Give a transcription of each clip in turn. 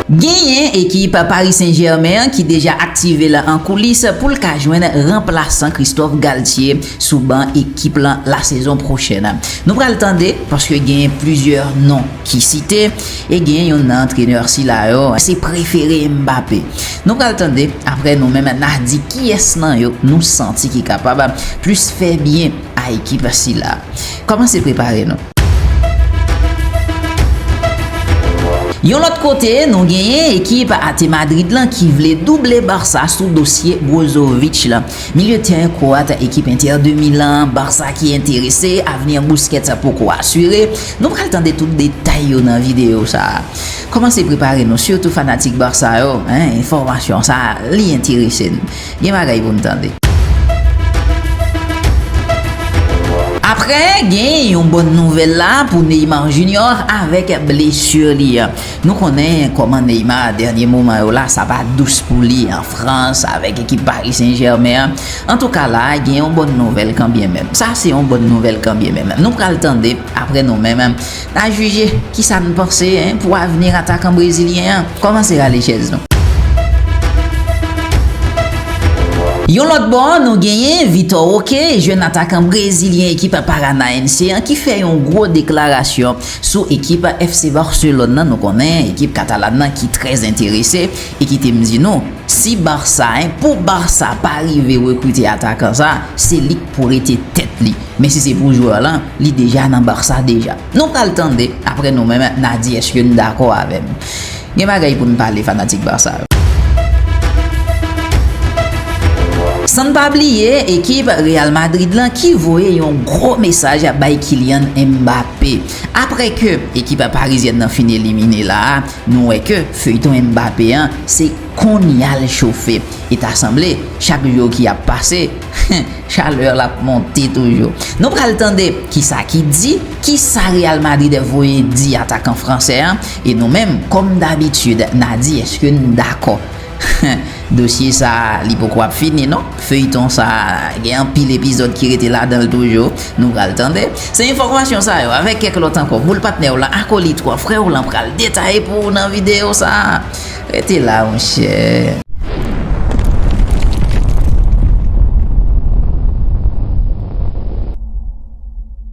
Genyen ekip Paris Saint Germain an ki deja aktive l an koulis pou l ka jwenn ranplasan Christophe Galtier sou ban ekip lan lasezon pwochèn. Nou pral tande paske genyen plizyè non. ki site e gen youn nan antrenè sila yo se prefere Mbappé. Nou pral tande aprè nou menm na di kiyès nan yo nou santi ki kapab plis fè byen a ekip sila. Kòmanse prepare nou. Yon lòt kote nou genyen ekip Ate Madrid lan ki vle double Barça sou dosye Brozovic la. Milye tèren kwoat ekip Inter de Milan, Barça ki enterese, avni Busquets poko asire. Nou pral tande tout detay yo nan videyo sa. Kòmanse prepare nou sitou fanatik Barça yo, enfòmasyon sa li enterese n. Gen bagay pou n tande. Aprè gen yon bòn nouvèl la pou Neymar Junior avèk blesur li an. Nou konnen kòman Neymar dènye moman yo la sa pa dous pou li an Frans avèk ekip Paris Saint Germain an. Antouka la gen yon bòn nouvèl kanbyen menm. Sa se yon bòn nouvèl kanbyen menm. Nou pral tande aprè nou menm na jije kisa n panse pou avni atakan brezilyen an. Kòmanse rale chèz nou. Yon lòt bò nou genyen Vitor Roque jèn atakan brezilyen ekip Paranaense an ki fè yon gwo deklarasyon. Sou ekip FC Barcelone nan nou konnen ekip katalan nan ki trè enterese e kite m di nou si Barça pou Barça pa rive rekrite atakan sa se li k pou rete tèt li men si se pou jwè lan li deja nan Barça deja. Nou pral tande aprè nou menm na di eske n dakò avè m. Gen bagay pou n pale fanatik Barça yo. San n pa bliye ekip Real Madrid lan ki voye yon gwo mesaj bay Kylian Mbappé. Aprè ke ekip parizyèn nan fin elimine la a, nou wè ke feyton Mbappé an se konnya l chofe. E ta sanble chak jou ki ap pase, chalè l ap monte toujou. Nou pral tande kisa ki di, kisa Real Madrid voye di atakan fransè an, E nou menm kòm dabitid na di eske n dakò Dosye sa li poko ap fini non Feuilleton sa gen anpil epizòd ki rete ladan l toujou Nou pral tande Se enfòmasyon sa yo avèk kèk lòt ankò boul patnè w lan akolit w an frè w lan pral detaye pou ou nan videyo sa Rete la monchè.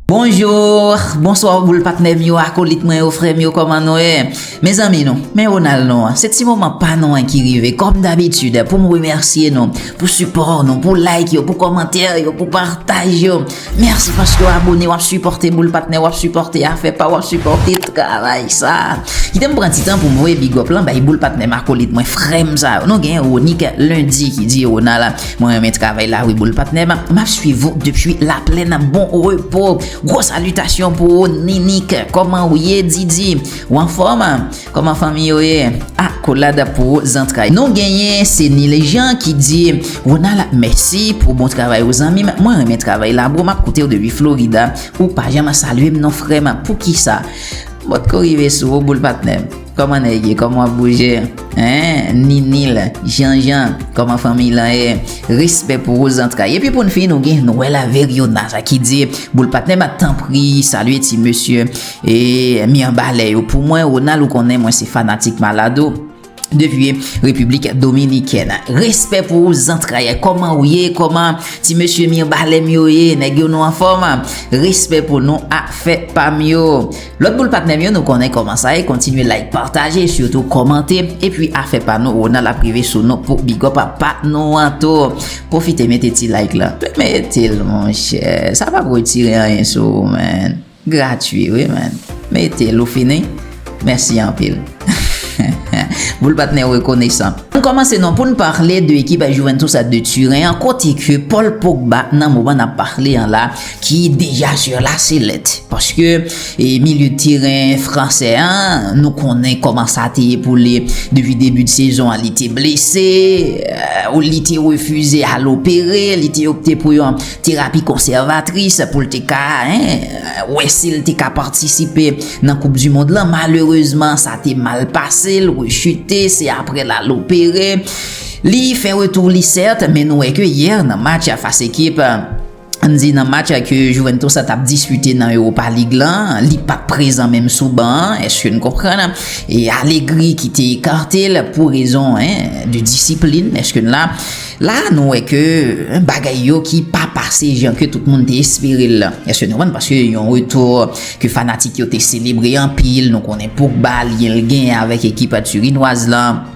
Bonjour, bonsoir boul patnèm yo, akolit mwen yo, frèm yo kòman nou ye? Mezanmi nou, men Ronald nou an, se ti moman pa nou an ki rive, kòm dabitid, pou m remèsye nou, pou sipò nou, pou like yo, pou kòmantè yo, pou pataj yo, mèsi paske w abone, w ap sipòte boul patnè, w ap sipòte afè pa w, w ap sipòte travay sa. Kite m pran ti tan pou m voye bigòp lan bay boul patnèm, akolit mwen, frèm sa yo, nou gen Ronick Lundi ki di Ronald. Mwen renmen travay la wi boul patnèm map swiv ou depi la plèn bon repo gwo salitasyon pou ou Ninik kòman ou ye Didi ou anfòm kòman fanmi yo ye akolad pou ou zantray nou genyen se Nil Jean ki di Ronald mèsi pou bon travay ou zanmim mwen renmen travay la bro map koutew depi Florida ou pa janm salyem non frèm poukisa mwen pko rive sou ou boul patnèm. Kòman nèg ye kòman wap bouje eeh ninil janjan kòman fanmiy lan ye respè pou ou zantray epi poun fini nou gen noel avèg yonas a ki di boul patnèm a tanpri salye ti mesye eeh mirbalè yo pou mwen ronald ou konnen mwen se fanatik malad ou depi repiblik dominikèn respè pou ou zantray kòman ou ye kòman ti mesye mirbalèm yo ye nèg yo nou anfòm respè pou nou afè pam yo Lòt boul patnèm yo nou konnen kòman sa ye kontinye like pataje sitou kòmante epi afè pa nou Ronald ap rive sou nou pou bigòp a pa nou an tou pwofite mete ti like la metel monchè sa pap retire anyen sou ou menn gratwi wi menn metel ou fini mèsi anpil hehe boul patnè rekonesan. An kòmanse non poun parle de ekip Juventus de Turen an kote ke Paul Pogba nan moman nap parle an la ki deja sur la sellette paske milieu de terrain fransè an nou konnen koman sa te ye pou li depi debi de sezon an li te blese ou li te refize al opere li te opte pou yon terapi konservatris pou li te ka wè si li te ka patisipe nan koup du mond lan malerezman sa te mal pase li rechute se apre l al opere li fè retou li sèt men nou wè ke yè nan match fas ekip N di nan match ke Juventus la t ap dispite nan Europa League la, li pa t prezan menm sou ban an, èske n konprann? E Allegri ki te ekarte l pou rezon de disiplin, èske n la? La a nou wè ke bagay yo ki pa pase jan ke tout moun te espere l lan. Èske nou konprann? Paske yon retou ke fanatik yo te selebre anpil, nou konnen Pogba, lyen l genyen avèk ekip tirinwaz lan.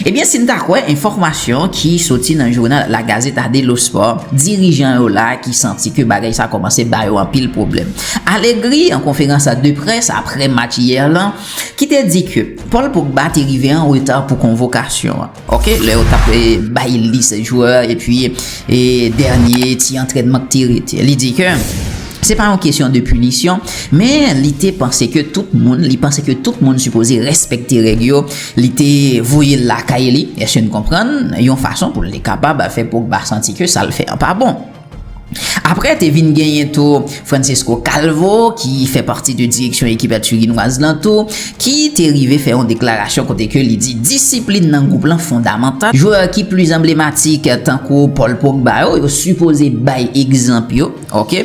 Ebyen si n ta kwè enfòmasyon ki soti nan jounal La Gazeta dello Sport, dirijan yo la ki santi ke bagay sa kòmanse ba yo anpil pwoblèm. Allegri an konferans de près aprè match yè lan, ki te di ke Paul Pogba te rive an reta pou konvokasyon an. Ok, lè yo tap bay lis jwè epi dènye ti antrènman k te rete. Li di ke se pa yon kesyon de pinisyon, men li te panse ke tout moun, li panse ke tout moun sipoze respekte règ yo. Li te voye l lakay li, èske n konprann, yon fason pou l te kapab fè Pogba santi ke sa l fè an pa bon. Aprè te vin genyen tou Francesco Calvo ki fè pati de direksyon ekip a Turinwaz lan tou ki te rive fè yon deklarasyon kote ke li di disiplin nan gwoup lan fondamantal, jwè ki plis anblematik tankou Paul Pogba yo, yo sipoze bay egzanp yo. Ok.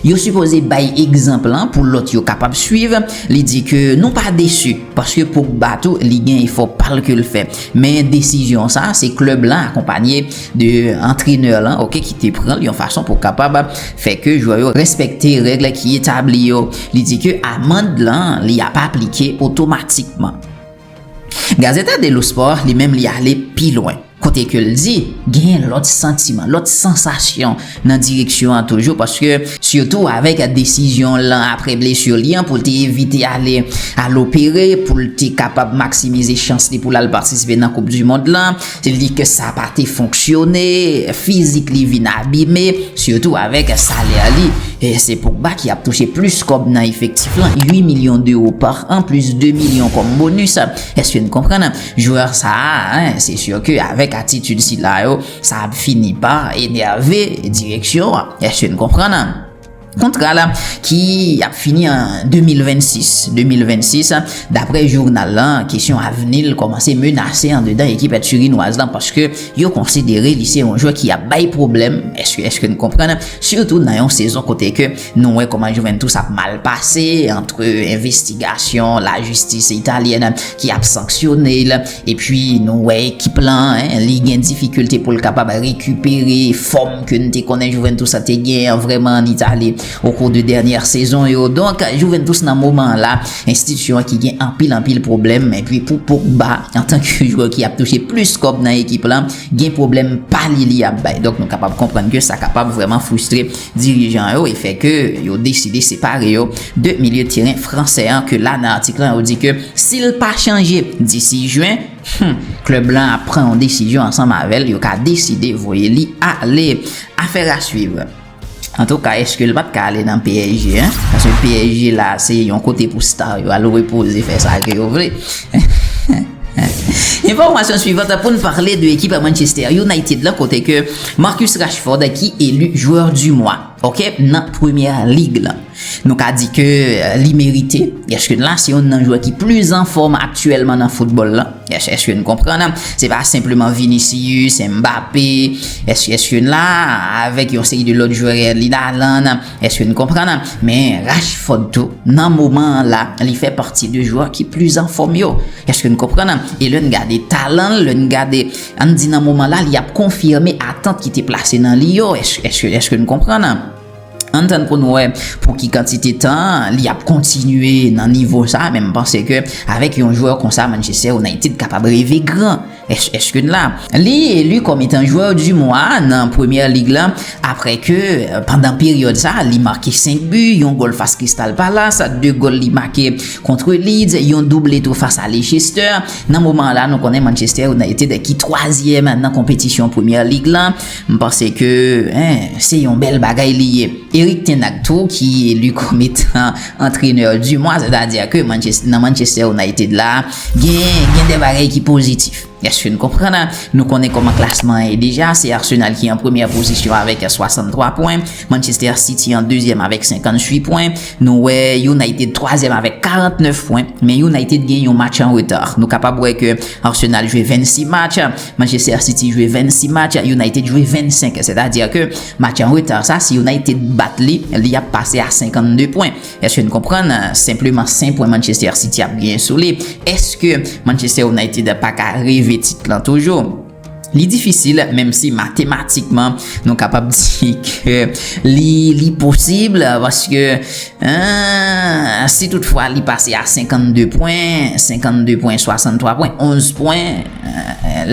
Yo sipoze bay egzanp lan pou lòt yo kapab swiv, li di ke nou pa desu paske Pogba tou li gen efò pal ke l fè men desizyon sa se klèb lan akonpanye de antrenè lan ok ki te pran l yon fason pou kapab fè ke jwè yo respekte règle ki etabli yo. Li di ke amand lan li ap aplike otomatikman. Gazeta dello Sport li menm li ale pi lwen kote ke l di genyen lòt santiman, lòt sansasyon nan direksyon an toujou paske sitou avèk desizyon l lan apre blesu li an pou l te evite ale al opere pou l te kapab maksimize chans li pou l al patisipe nan koup dimond lan. Li di ke sa pa te fonksyone, fizik li vin abime, sitou avèk salè li. Se Pogba ki ap touche plis kòb nan efektif lan, 8 milyon dewo pa an, plis 2 milyon kòm bonis. Eske n konprann? Jwè sa a, se si ke avèk atitid sila yo, sa ap fini pa enève direksyon an. Eske n konprann? Kontra la ki ap fini an 2026, dapre jounal la, kesyon avni l kòmanse menase andedan ekip èd tirinwaz la paske yo konsidere li se yon jwè ki ap bay pwoblèm, èske n konprann, sitou nan yon sezon kote ke nou wè kòman Juventus ap mal pase antre envestigasyon lajistis italyèn ki ap sanksyone l. Epi nou wè ekip lan, li gen difikilte pou l kapab rekipere fòm ke n te konnen Juventus a te gen an vrèman an Itali okou de dènyè sezon yo. Donk, Juventus nan moman an la, enstitisyon an ki gen anpil anpil pwoblèm. Epi pou Pogba, antanke jwè ki ap touche plis kòb nan ekip lan, gen pwoblèm pa li li ap bay. Donk nou kapab konprann ke sa kapab vrèman fristre. dirijan yo e fè ke yo deside separe yo de milye teren fransè an ke la nan atik lan yo di ke si l pa chanje disi Jwen, hum, klèb lan ap pran yon desizyon ansanm avè l, yo ka deside voye li ale. Affaire à suivre. Antouka eske l pat ka ale nan psg hein, paske psg la se yon kote pou star yo al repoze fè sa ke yo vle. Enfòmasyon suivant pou n pale de ekip Manchester United la kote ke Marcus Rashford ki elu jwè du mwa ok nan premyè lig la nou ka di ke li merite eske la se youn nan jwè ki plis anfòm aktyèlman nan foutbòl la eske nou konprann se pa senpleman Vinicius, Mbappe eske youn la avèk yon seri de lòt jwè li la lan Eske n konprann? Men Rashford tou, nan moman an la, li fè pati de jwè ki plis anfòm yo. Eske n konprann? E lè n gade talan l, lè n gade, an n di nan moman la, li ap konfime atant ki te plase nan li yo. Eske n konprann? An n tann pou n wè pou ki kantite tan li ap kontinye nan nivo sa a, men m panse ke avèk yon jwè konsa Manchester United kapab reve gran. HH Kane la. Li elu kòm etan jwè du mwa nan Premier League la aprè ke pandan peryòd sa li make 5 bu, yon gòl fas Crystal Palace, 2 gòl li make kontre Leeds, yon double tou fas a Leicester. Nan moman la nou konnen Manchester United ki twazyèm nan konpetisyon Premier League la. M panse ke se yon bèl bagay li ye. Erik ten Hag tou ki elu kòm etan antrenè du mwa, sètadi ke nan Manchester United la, Genyen gen de bagay ki pozitif. Eske n konprann la? Nou konnen kòman klasman an ye deja, se Arsenal ki an premyè pozisyon avèk 63 pwen, Manchester City an dezyèm avèk 58 pwen, nou wè United twazyèm avèk 49 pwen, men United gen yon match an reta. Nou kapab wè ke Arsenal jwe 26 match, Manchester City jwe 26 match, United jwe 25, sètadi ke match an reta sa si United bat li, li ap pase a 52 pwen. Eske n konprann senpleman 5 pwen Manchester City ap genyen sou li? Eske Manchester United pa ka reve tit lan toujou? Li difisil menm si matematikman nou kapab di ke li posib paske si tout fwa li pase a 52 pwen, 52 pwen, 63 pwen, 11 pwen,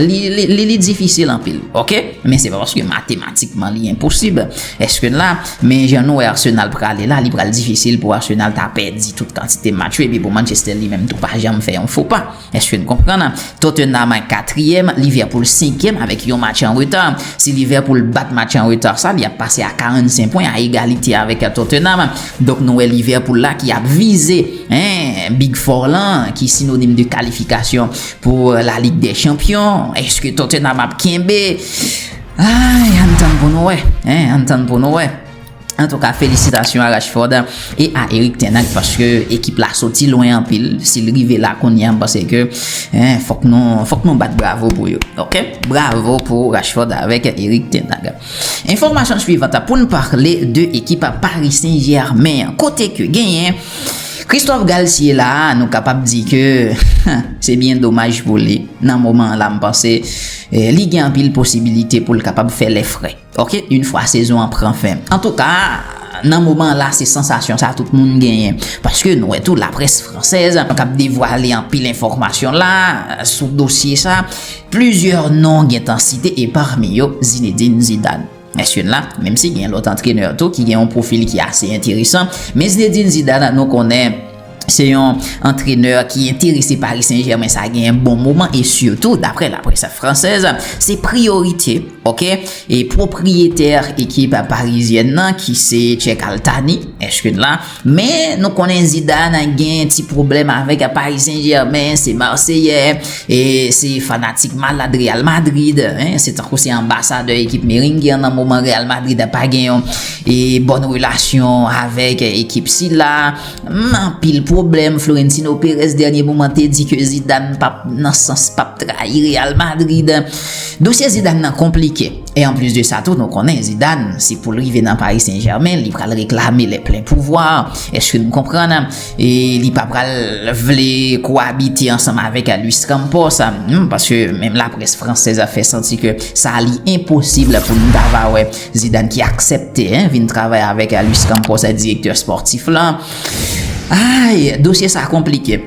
li difisil anpil. Ok? Men se pa paske matematikman li enposib. Eske n la? Men jan nou wè Arsenal prale la, li pral difisil pou Arsenal ta pèdi tout kantite match yo epi pou Manchester li menm tou pa janm fè yon fo pa. Èske n konprann? Tottenham katriyèm, Liverpool senkyèm avèk yon match an reta. Si Liverpool bat match an reta sa, li ap pase a 45 pwen a egalite avèk Tottenham. Donk nou wè Liverpool la ki ap vize, hein, Big Four lan ki sinonim de kalifikasyon pou La Ligue des Champions. Èske Tottenham ap kenbe? Ayy ann tann pou nou wè hein ann tann pou nou wè. Antouka felisitasyon a Rashford e a Erik ten Hag paske ekip la soti lwen anpil si l rive la kounye a m panse ke fòk nou fòk nou bat bravo pou yo ok bravo pou Rashford avèk Erik ten Hag. Enfòmasyon suivant a pou n pale de ekip Paris Saint Germain an kote ke genyen Christophe Galtier la nou kapab di ke se byen domaj pou li nan moman an la m panse Li gen anpil posibilite pou l kapab fè lè fre ok yn fwa sezon an pran fen. Antouka, nan moman la se sansasyon sa tout moun genyen. Paske nou wè tou laprès fransèz kap devwale anpil enfòmasyon la sou dosye sa. Plizyè non gentan site e parmi yo Zinedine Zidane. Mesye la, menm si gen lòt antrenè tou ki gen yon pwofil ki ase enteresan, men Zinedine Zidane nou konnen se yon antrenè ki enterese Paris Saint-Germain sa gen yon bon moman e sitou daprè la presse française se priyorite ok e pwopriyetè ekip parizyèn nan ki se Cheikh Al Thani, èske n la? Men nou konnen Zidane gen ti pwoblèm avèk Paris Saint Germain, se Marseillè, se fanatik malad Real Madrid, se tankou se anbasadè ekip Merengue an nan moman Real Madrid pa gen yon bòn relasyon avèk ekip sila. Anpil pwoblèm, Florentino Perez dènye moman te di ke Zidane pap nan sans pap trayi Real Madrid. Dosye Zidane nan konplike. E anplis de sa tou nou konnen Zidane se poul rive nan Paris Saint Germain li pral reklame le plen pouvwa eske nou konprann e li pa pral vle kowabite ansanm avek Luis Campos humm paske menm la près fransèz a fè santi ke sa li enposib pou nou ta va wè Zidane ki aksèpte vin travay avek Luis Campos direktè spòtif lan aayy dosye sa konplike.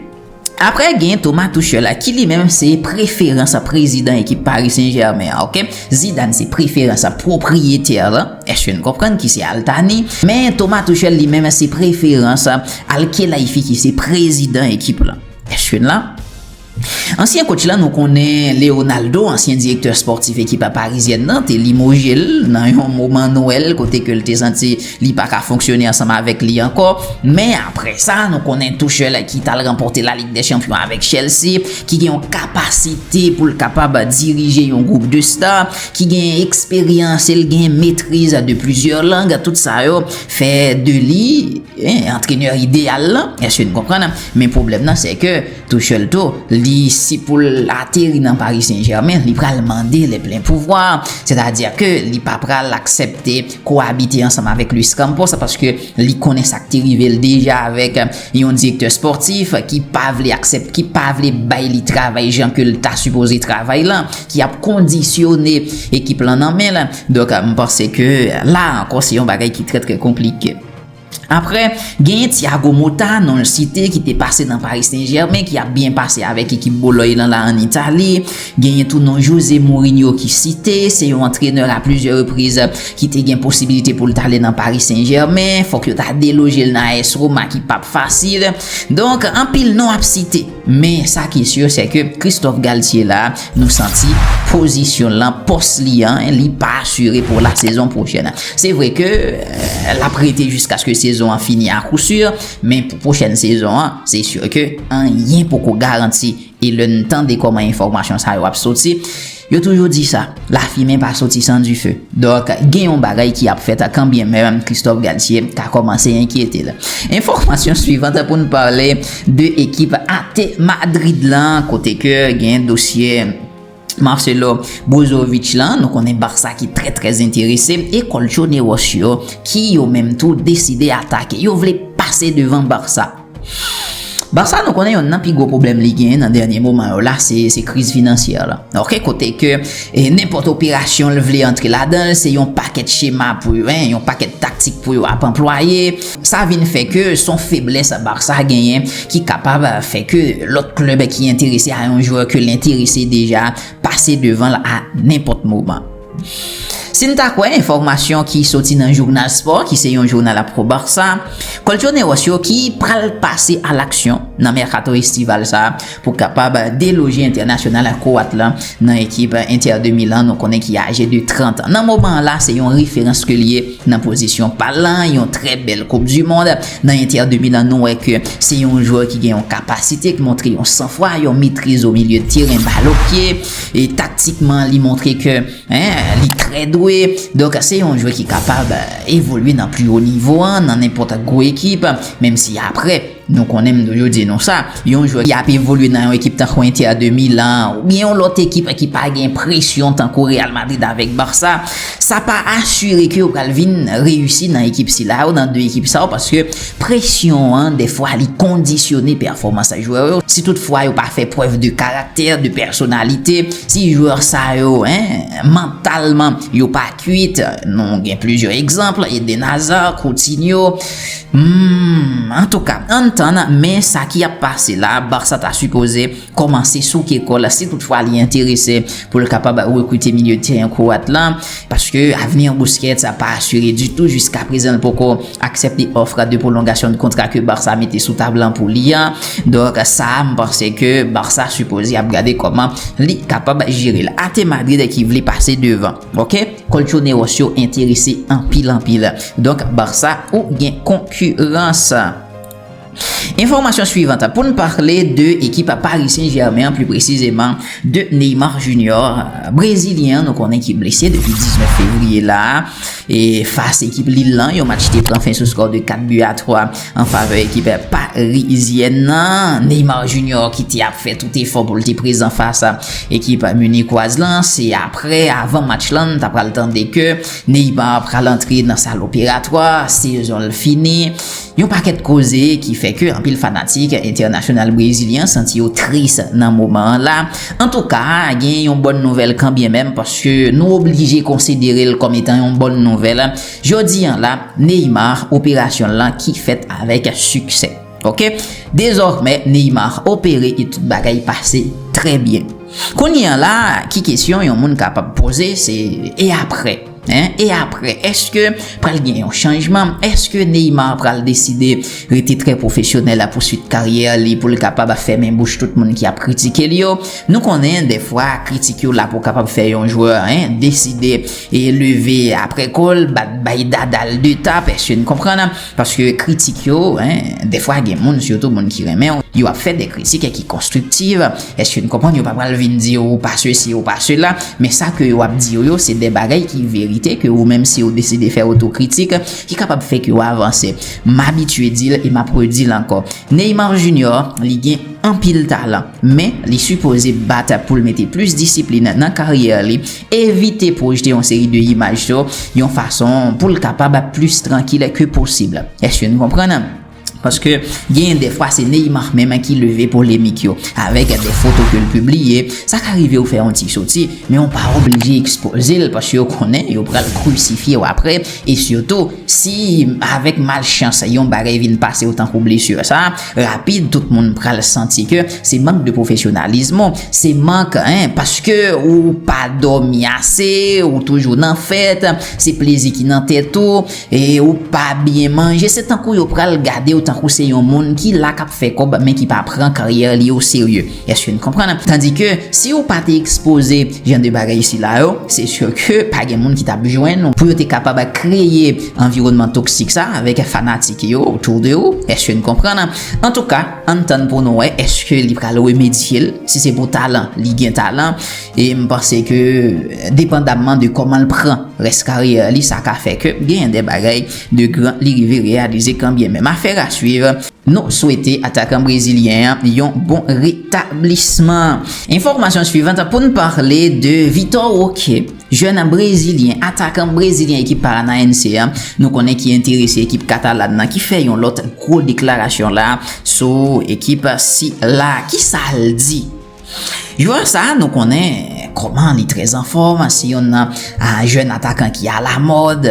Aprè gen Thomas Tuchel la ki li menm se preferans prezidan ekip Paris Saint Germain an ok. Zidane se preferans pwopriyetè lan, eske n konprann ki se Al Thani, men Thomas Tuchel li menm se preferans Al Khelaifi ki se prezidan ekip lan. Eske n la? Ansyen kotch lan nou konnen Leonaldo, ansyen direktè spòtif ekip Parizyèn nan te limoje l nan yon moman Nwèl kote ke l te santi Li pa ka fonksyone ansanm avèk li ankò, men aprè sa nou konnen Tuchel ki tal ranpòte La Ligue des Champions avèk Chelsea, ki gen yon kapasite pou l kapab dirije yon gwoup de star, ki gen eksperyans e l gen metriz de plizyè lang, tout sa yo fè de li antrenè ideyal lan, èske nou konprann? Men pwoblèm nan sè ke. Tuchel tou, l di si pou l ateri nan Paris Saint Germain, li pral mande le plen pouvwa, sètadi ke li pa pral aksepte kowabite ansanm avèk Luis Campos paske li konnen sa k te rive l deja avèk yon direktè spòtif ki pa vle aksepte, ki pa vle bay li travay jan ke l ta sipoze travay lan, ki ap kondisyone ekip lan nan men l. Donk, m panse ke la ankò se yon bagay ki trè trè konplike. Aprè, genyen Thiago Motta, non l site, ki te pase nan Paris Saint Germain, ki ap byen pase avèk ekip Boloy lan la an Itali. Genyen tou non José Mourinho ki site, se yon antrenè a plizyè repriz ki te gen posibilite pou l t ale nan Paris Saint Germain. Fòk yo ta deloje l nan AS Roma ki p ap fasil. Donk, anpil non ap site. Men sa ki sur se ke Christophe Galtier la nou santi pozisyon l lan, pòs li an, li pa asire pou la sezon pwochèn. Se vre ke l ap rete jiskaske sezon an fini a kou sur, men pou pwochèn sezon an, se sur ke anyen poko garanti. E lè n tande kòman enfòmasyon sa yo ap soti, Yo toujou di sa, lafimen pa soti san dife. Donk, gen yon bagay ki ap fèt kanbyen menm Christophe Galtier ta kòmanse enkyete l. Enfòmasyon suivant pou n pale de ekip at Madrid lan kote ke gen dosye Marcelo Brozovic lan, nou konnen Barça ki trè trè enterese e Colchoneros yo ki yo menm tou deside atake. Yo vle pase devan Barça. Barça nou konnen yonn nan pi gwo pwoblèm li genyen nan dènye moman yo la se kriz finansyè la ok kote ke nenpòt operasyon l vle antre ladan l se yon pakèt chema pou yo yon pakèt taktik pou yo ap anplwaye sa vin fè ke son feblès Barça genyen ki kapab fè ke lòt klèb ki enterese a yon jwè ke l enterese deja pase devan l a nenpòt moman. Si n ta kwè enfòmasyon ki soti nan jounal spò ki se yon jounal ap Pro Barça, Colchoneros yo ki pral pase alaksyon nan mèkato estival sa pou kapab deloje entènasyonal kwoat la nan ekip Inter de Milan nou konnen ki aje de 30 an nan moman an la se yon referans ke l ye nan pozisyon pa l lan yon trè bèl koup du mond nan Inter de Milan nou wè ke se yon jwè ki gen yon kapasite ki montre yon sanfwa yon metriz o milye de teren bal o pye. e taktikman li montre ke li trè dwe, donk se yon jwè ki kapab evolye nan pli wo nivo an nan nenpòt gwo ekip, menm si aprè nou konnen m toujou di nou sa, yon jwè ki ap evolye nan yon ekip tankou Inter de Milan oubyen yon lòt ekip ki pa gen presyon tankou Real Madrid avèk Barça, sa pa asire ke yo pral vin reyisi nan ekip sila yo, nan 2 ekip sa yo paske. Presyon an dèfwa li kondisyone pèfòmans jwè yo, si tout fwa yo pa fè prèv de karaktè, de pèsonalite, si jwè sa yo mantalman yo pa kwit, nou gen plizyè egzanp, Eden Hazard, Coutinho, humm, antouka ann tann men sa ki ap pase la, Barça ta sipoze kòmanse souke kò l si tout fwa li enterese pou l kapab rekrite milye tèren Kwoat la paske avni Busquets a pa asire ditou jiska prezan l poko aksepte òf de pwolongasyon de kontra ke Barça mete sou tab lan pou li a donk sa a m panse ke Barça sipoze ap gade kòman li kapab jere l a te Madrid ki vle pase devan ok Colchoneros yo enterese anpil anpil donk Barça ou gen konkurans. Enfomasyon suivant pou n parle de ekip Paris Saint Germain an pli presizeman de Neymar Junior brezilyen an nou konnen ki blese depi 19 fevriye la a e fas ekip Lille lan yon match ki te pran fen sou skò de 4 bi a 3 an favè ekip parizyèn nan Neymar Junior ki te ap fè tout efò pou l te prezan fas ekip minikwoaz lan se aprè avan match lan n ta pral tande ke Neymar pral antre nan sal operatwa sezon l fini Yon pakèt koze ki fè ke anpil fanatik entènasyonal brezilyen an santi yo tris nan moman an la. Antouka, gen yon bòn nouvèl kanbyen menm paske nou oblije konsidere l kòm etan yon bòn nouvèl. Jodi an la, Neymar operasyon l lan ki fèt avèk siksè. Ok. Dezòmè, Neymar opere e tout bagay pase trè byen. Kounye an la, ki kesyon yon moun kapab poze se e aprè? Hein e aprè eske pral gen yon chanjman eske Neymar pral deside rete trè pwofesyonèl a pouswit karyè li poul kapab a fèmen bouch tout moun ki ap kritike li yo nou konnen dèfwa kritik yo la pou kapab fè yon jwè hein deside e leve aprè kol bat bay dadal de tap eske n konprann. Paske kritik yo, hein, dèfwa gen moun, sitou moun ki renmen w, yo ap fè dè kritik e ki konstriktiv, èske n konprann yo pa pral vin di w ou pa sesi ou pa sela, men sa ke yo ap di w yo se dè bagay ki verite ke ou menm si w deside fè otokritik ki kapab fè ke w avanse. M abitye di l e m ap redi l ankò, Neymar Junior li gen anpil talan. Men, li sipoze bat pou l mete plis disiplin nan karyè li, evite pwojte yon seri de imaj sou yon fason pou l kapab plis trankil ke posib. Eske n konprann? Paske genyen dèfwa se Neymar menm ki leve polemik yo avèk de foto ke l pibliye, sa ka rive ou fè yon ti soti, men ou pa oblije ekspoze l paske ou konnen yo pral krusifye w aprè e sitou, Si avèk malchans yon bagay vin pase w tankou blesur sa, rapid tout moun pral santi ke se mank de pwofesyonalism ou, se mank hein paske ou pa dòmi ase, ou toujou nan fèt, se plezi ki nan tèt ou, e ou pa byen manje, se tankou yo pral gade w tankou se yon moun ki la kap fè kòb men ki pa pran karyè li o serye. Eske n konprann? Tandi ke si ou pa te ekspoze jan de bagay sila yo, se sur ke pa gen moun ki t ap jwenn ou pou yo te kapab kreye anviwònman toksik sa avèk fanatik yo autour de ou. Eske n konprann? Antouka, ann tann pou nou wè eske li pral remedye l. Si se pou talan, li gen talan e m panse ke depandamman de kòman l pran rès karyè li, sa ka fè ke genyen de bagay de gran li rive reyalize kanbyen menm. Affaire à suivre. Nou swete atakan brezilyen an yon bon retablisman. Enfòmasyon suivant pou n pale de Vitor Roque, jèn brezilyen, atakan brezilyen ekip Paranaense an, nou konnen ki enterese ekip katalan nan ki fè yon lòt gwo deklarasyon la sou ekip sila. Kisa l di? Jwè sa nou konnen kòman li trè anfòm, se yonn nan jèn atakan ki alamòd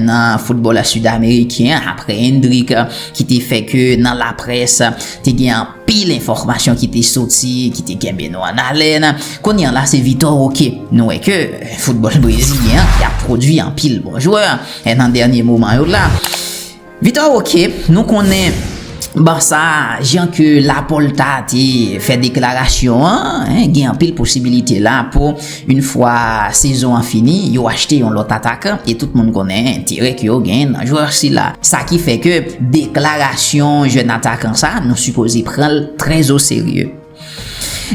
nan foutbòl sidameriken apre Endrick ki te fè ke nan laprès te gen anpil enfòmasyon ki te soti ki te kenbe nou an alèn. Kounye an la se Vitor Roque. Nou wè ke foutbòl brezilyen an ap pwodui anpil bon jwè nan dènye moman yo la. Vitor ok nou konnen Barça jan ke Laporta te fè deklarasyon an gen anpil posibilite la pou yn fwa sezon an fini yo achte yon lòt atakan e tout moun konnen enterè ke yo gen nan jwè sila sa ki fè ke deklarasyon jèn atakan sa nou sipoze pranl trè o serye.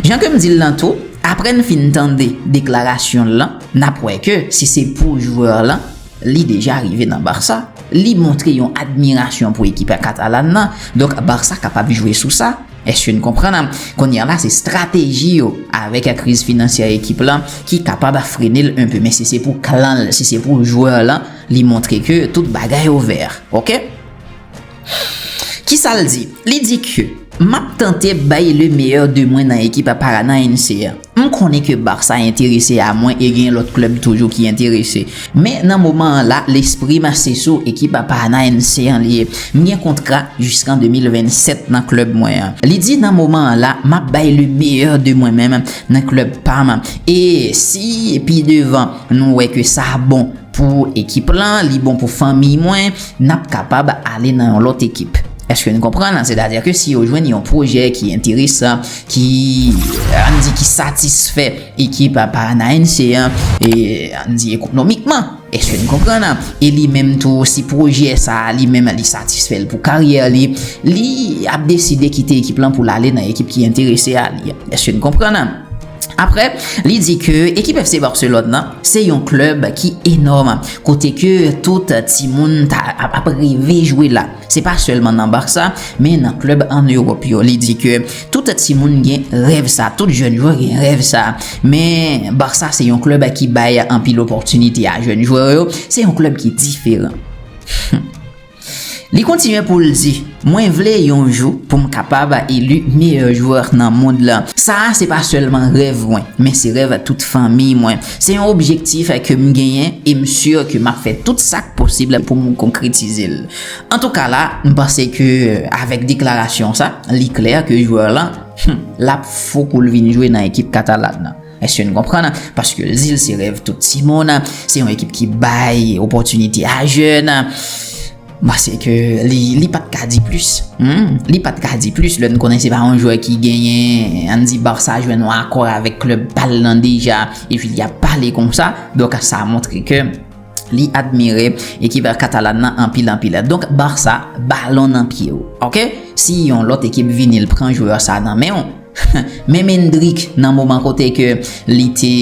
Jan ke m di l lan tou, apre n fin tande deklarasyon l lan, n ap wè ke si se pou jwè lan, li deja rive nan Barça. Li montre yon admirasyon pou ekip katalan lan, donk Barça kapab jwe sou sa. Èske n konprann? Kounye a la, se estrateji yo avèk kriz finansyè ekip lan ki kapab frene l enpe. Men si se pou klan l, si se pou jwè lan, li montre ke tout bagay ouvè. Ok! Kisa l di? Li di ke, M ap tante bay le meyè de mwen nan ekip a Paranaense a. M konnen ke Barça enterese a mwen e gen lòt klèb toujou ki enterese. Men nan moman an la, lespri m a se sou ekip a Paranaense an li ye. M gen kontra jiskan 2027 nan klèb mwen an. Li di nan moman an la, m ap bay le meyè de mwen menm nan klèb pa m. E si pi devan nou wè ke sa bon pou ekip lan, li bon pou fanmiy mwen, n ap kapab ale nan yon lòt ekip. Èske n konprann? Sètadi ke si yo jwenn yon pwojè ki enteresan, ki, an n di, ki satisfè ekip Paranaense an, e, an n di, ekonomikman. Èske n konprann? E li menm tou, si pwojè sa a li menm li satisfè l pou karyè li, li ap deside kite ekip lan pou l ale nan ekip ki enterese a li. Èske n konprann? Aprè, li di ke ekip FC Barcelone nan, se yon klèb ki enòm, kote ke tout timoun ta ap reve jwe la. Se pa sèlman nan Barça, men nan klèb an Ewòp yo. Li di ke tout timoun gen rèv sa, tout jèn jwè gen rèv sa. Men, Barça se yon klèb ki bay anpil opòtinite a jèn jwè yo, se yon klèb ki diferan. Li kontinye pou l di, Mwen vle yon jou pou m kapab eli meyè jwè nan mond lan. Sa a se pa sèlman rèv mwen, men se rèv tout fanmi mwen. Se yon objektif ke m genyen e m si ke m ap fè tout sa k posib pou m konkretize l. Antouka la, m panse ke avèk deklarasyon sa, li klè ke jwè lan, l ap fou pou l vin jwe nan ekip Catalan nan. Èske n konprann? Paske Zile se rèv tout timoun, se yon ekip ki bay opòtinite a jèn. M panse ke li pa t ka di plis. Li pa t ka di plis lè n konnen se pa yon jwè ki genyen, an n di Barça jwenn yon akò avèk klèb pa l lan deja epi li ap pale konsa. Donk sa montre ke. li admire ekip katalan nan anpil anpil donk Barça balon nan pye w ok si yon lòt ekip vini l pran jwè sa nan men w menm Endrick nan moman kote ke li te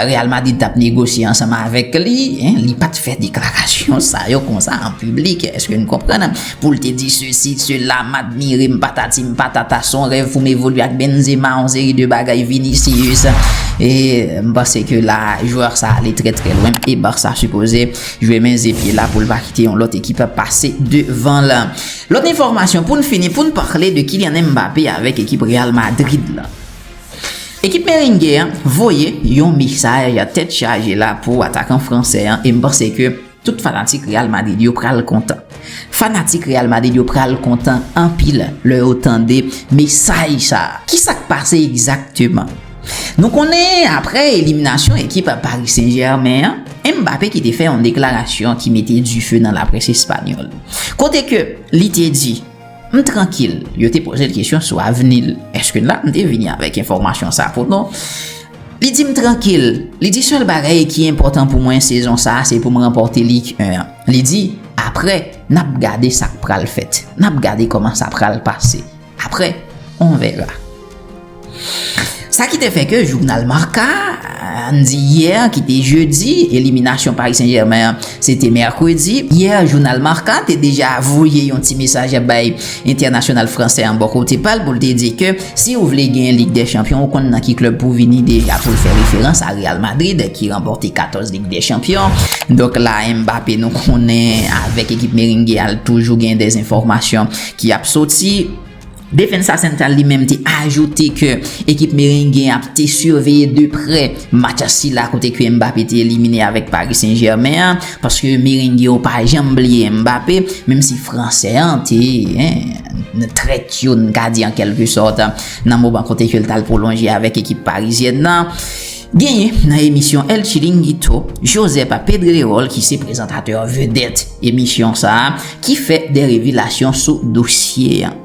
Real Madrid t ap negosye ansanm avèk li li pat fè deklarasyon sa yo konsa an piblik èske n konprann. Pou l te di sesi, sela, m admire, m patati, m patata, s on rèv pou m evolye ak Benzema, on seri de bagay, Vinicius, e m panse ke la a jwè sa a ale trè trè lwen e Barça sipoze jwe men ze pye la pou l pa kite yon lòt ekip pase devan l. Lòt enfòmasyon pou n fini pou n pale de Kylian Mbappé avèk ekip Real Madrid la. Ekip Merengue an voye yon mesaj tèt chaje la pou atakan fransè an e m panse ke Tout fanatik Real Madrid yo pral kontan. Fanatik Real Madrid yo pral kontan anpil lè yo tande mesaj sa a. Ki sa k pase egzakteman? Nou konnen aprè eliminasyon ekip Paris Saint-Germain an, Mbappé ki te fè yon deklarasyon ki mete dife nan laprès espanyòl. Kote ke li te di, M trankil. Yo te poze l kesyon sou avni l. Eske n la? M te vini avèk enfòmasyon sa a pou nou. Li di m trankil. Li di sèl bagay ki enpòtan pou mwen sezon sa se pou m ranpòte Lig 1 an. Li di, Aprè, n ap gade sa k pral fèt. N ap gade kòman sa pral pase. Aprè, on verra. Sa ki te fè ke jounal Marca, ann di yè ki te jedi, eliminasyon Paris Saint-Germain an se te mèkredi, yè jounal Marca te deja voye yon ti mesaj bay entènasyonal fransè an bò kote pa l pou l te di ke Si ou vle genyen Lig dè Chanpyon ou konn nan ki klèb pou vini deja pou l fè referans a Real Madrid ki ranpòte 14 Lig dè Chanpyon. Donk la Mbappé nou konnen avèk ekip Merengue a l toujou gen dè enfòmasyon ki ap soti. Defensa Central li menm te ajoute ke ekip Merengue a te siveye de prè match sila kote ke Mbappé te elimine avèk Paris Saint Germain an paske Merengue yo pa janm bliye Mbappé menm si Fransè an te trèt yo n ka di an kèlke sòt nan moman kote ke l t al pwolonje avèk ekip parizyèn nan. Genyen nan emisyon El Chiringuito, Josepa Pedrerol ki se prezantatè vedèt emisyon sa a ki fè de revelasyon sou dosye an.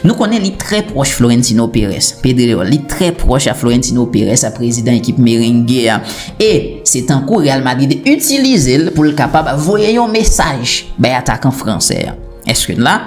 Nou konnen li trè pwòch Florentino Perez, Pedrerol, li trè pwòch a Florentino Perez, prezidan ekip Merengue a, e se tankou Real Madrid itilize l pou l kapab voye yon mesaj bay atakan fransè an. Èske n la?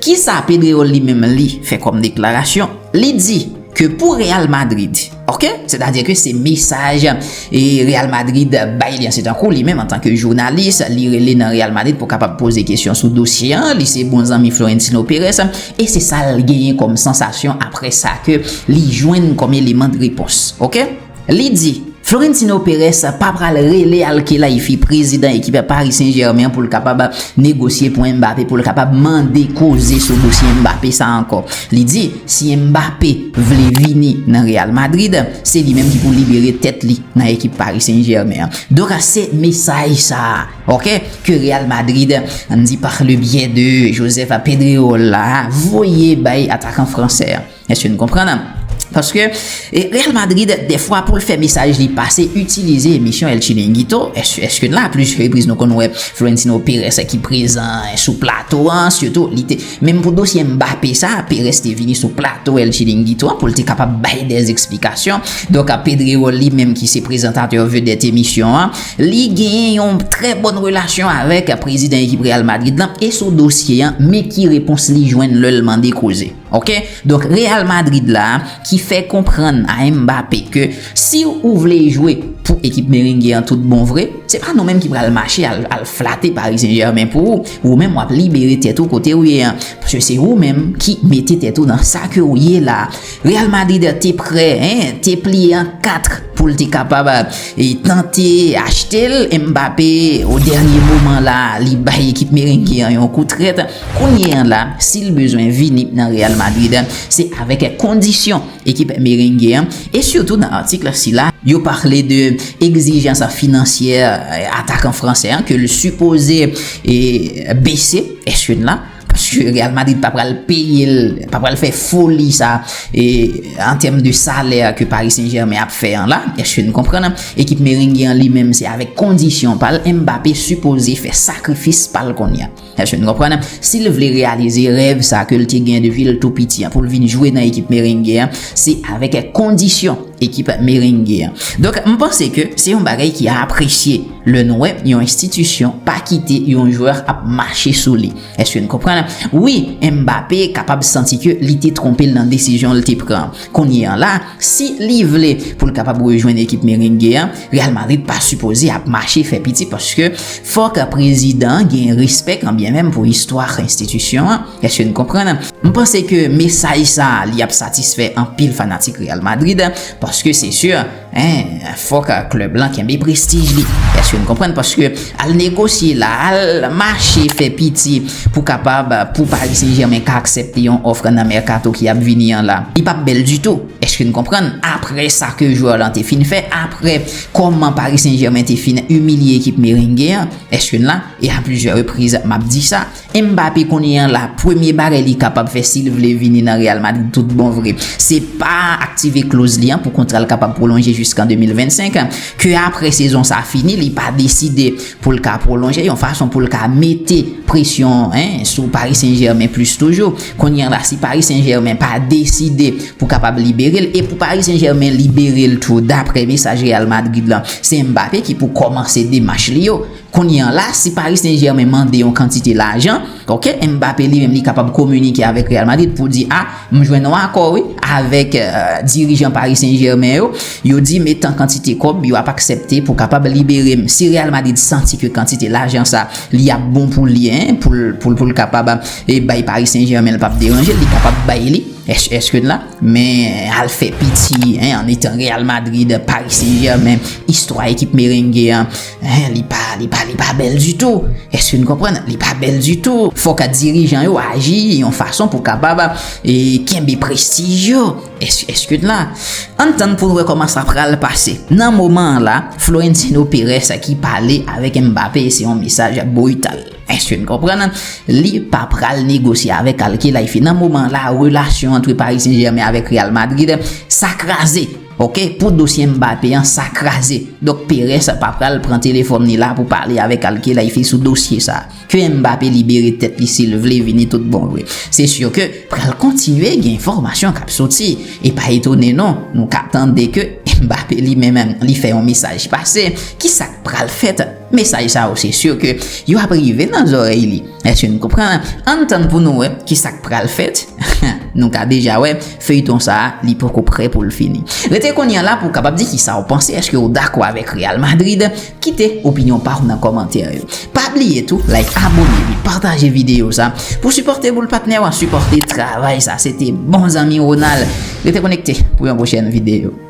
Kisa Pedrerol li menm li fè kòm deklarasyon? Li di ke pou Real Madrid, ok, sètadi ke se mesaj e Real Madrid bay li an, se tankou li menm antanke jounalis, li rele nan Real Madrid pou kapab poze kesyon sou dosye an, li se bon zanmi Florentino Perez, e se sa l genyen kòm sansasyon apre sa ke li jwenn kòm eleman de repons. Ok? Li di, Florentino Perez pa pral rele Al-Khelaifi, prezidan ekip Paris Saint-Germain an pou l kapab negosye pou Mbappé, pou l kapab mande koze sou dosye Mbappé sa ankò. Li di, si Mbappé vle vini nan Real Madrid, se li menm ki pou libere tèt li nan ekip Paris Saint-Germain an. Donk se mesaj sa a, ok, ke Real Madrid, an di par le biais de Josep Pedrerol la, voye bay atakan fransè an. Èske n konprann? Paske, Real Madrid, dèfwa pou l fè mesaj li pase, itilize emisyon El Chiringuito. Èske n la? A plis repriz nou konn wè Florentino Perez ki prezan sou plato a. Sitou, li te, menm pou dosye Mbappé sa, Perez te vini sou plato El Chiringuito a pou l te kapab bay dè esplikasyon. Donk, Pedrerol li menm ki se prezantatè vedèt emisyon an, li genyen yon trè bòn relasyon avèk prezidan ekip Real Madrid lan e sou dosye an, men ki repons li jwenn lè l mande koze. Ok donk Real Madrid la ki fè konprann a Mbappé ke si ou vle jwe pou ekip Merengue an tout bon vre, se pa nou menm ki pral mache al flate Paris Saint Germain pou ou, ou menm wap libere tèt ou kote ou ye an, paske se ou menm ki mete tèt ou nan sa ke ou ye la. Real Madrid te prè, te pliye an 4 poul te kapab tante achte l, Mbappé o dènye moman la li bay ekip Merengue an yon kou trèt. Kounye an la, si l bezwen vini nan Real Madrid, se avèk kondisyon ekip Merengue an, e sitou nan atik sila, yo pale de egzijans finansyè atakan fransè an ke l sipoze bese echeln la, paske Real Madrid pa pral peye l, pa pral fè foli sa an tèm de salè ke Paris Saint Germain ap fè an la, eske n konprann? Ekip Merengue an li menm se avèk kondisyon pa l, Mbappé sipoze fè sakrifis pa l kounye an. Èske nou konprann? Si l vle reyalize rèv sa ke l te gen depi l tou piti an pou l vin jwe nan ekip Merengue an, se avèk kondisyon ekip Merengue an. Donk, m panse ke se yon bagay ki apresye lè nou wè yon enstitisyon pa kite yon jwè ap mache sou li. Èske n konprann? Wi, Mbappé kapab santi ke li te twonpe l nan desizyon l te pran an. Kounye an la, Si li vle pou l kapab rejwenn ekip merengue an, Real Madrid pa sipoze ap mache fè piti paske fòk prezidan an gen respè kanbyen menm pou istwa enstitisyon an, èske n konprann? M panse ke mesaj sa li ap satisfè anpil fanatik Real Madrid paske se sur, en, Fòk club lan kenbe prestij li. Eske nou konprann paske al negosye la, al mache fè piti pou kapab pou Paris Saint Germain ka aksepte yon òfr nan mercato ki ap vini an la. Li pap bèl ditou. Eske nou konprann aprè sa ke jwè lan te fin fè, aprè kòman Paris Saint Germain te fin imilye ekip merengue an. Eske n la? E a plizyè repriz map di sa. Mbappé kounye an la, premye bagay li kapab fè si l vle vini nan Real Madrid tout bon vre, se pa aktive kloz li an pou kontra l kapab pwolonje jiskan 2025, ke aprè sezon sa fini li pa deside pou l ka pwolonje, yon fason pou l ka mete presyon sou Paris Saint-Germain plis toujou. Kounye an la si Paris Saint-Germain pa deside pou kapab libere l, e pou Paris Saint-Germain libere l tou daprè mesaj Real Madrid lan, se Mbappé ki pou kòmanse demach li yo. Kounye an la, si Paris Saint-Germain mande yon kantite lajan, ok, Mbappé li menm li kapab kominike avèk Real Madrid pou di, ah, m jwenn yon akò wi avèk dirijan Paris Saint-Germain yo, yo di m etan kantite kòb yo ap aksepte pou kapab libere m. Si Real Madrid santi ke kantite lajan sa li ap bon pou li, pou l kapab bay Paris Saint-Germain l pap deranje l, li kapab bay li, èske n la? Men al fè piti, an etan Real Madrid, Paris Saint-Germain, istwa ekip merengue an. Hein li pa li pa li pa bèl ditou èske nou konprann li pa bèl ditou fòk dirijan yo aji yon fason pou kapab e kenbe prestij yo èske èske n la ann tann pou n wè kòman sa pral pase nan moman an la Florentino Perez ki pale avèk Mbappé se yon mesaj brital èske n konprann li pa pral negosye avèk Al Khelaifi nan moman an la relasyon antre Paris Saint-Germain avèk Real Madrid sa kraze. Ok pou dosye Mbappé an sa kraze donk Perez pa pral pran telefom ni la pou pale avek Al Khelaifi sou dosye sa ke Mbappé libere tet li sil vle vini tout bon vre se sur ke pral kontinye gen enfomasyon kap soti e pa etone non nou ka tande ke Mbappé li menm li fè yon mesaj pase kisak pral fèt mesaj sa yo se sur ke yo ap rive nan zorey li. Eske nou konprann? Ann tann pou nou wè kisak pral fèt Nou ka deja wè feyton sa li poko prè poul fini Rete kounye an la pou w kapab di kisa w panse eske ou dakò avèk Real Madrid Kite opinyon pa w nan kòmantè yo Pa bliye tou like abone epi pataje videyo sa Pou sipòte boul patnè w an sipòte travay sa Se te bon zanmi Ronald Rete konekte pou yon pwochèn videyo.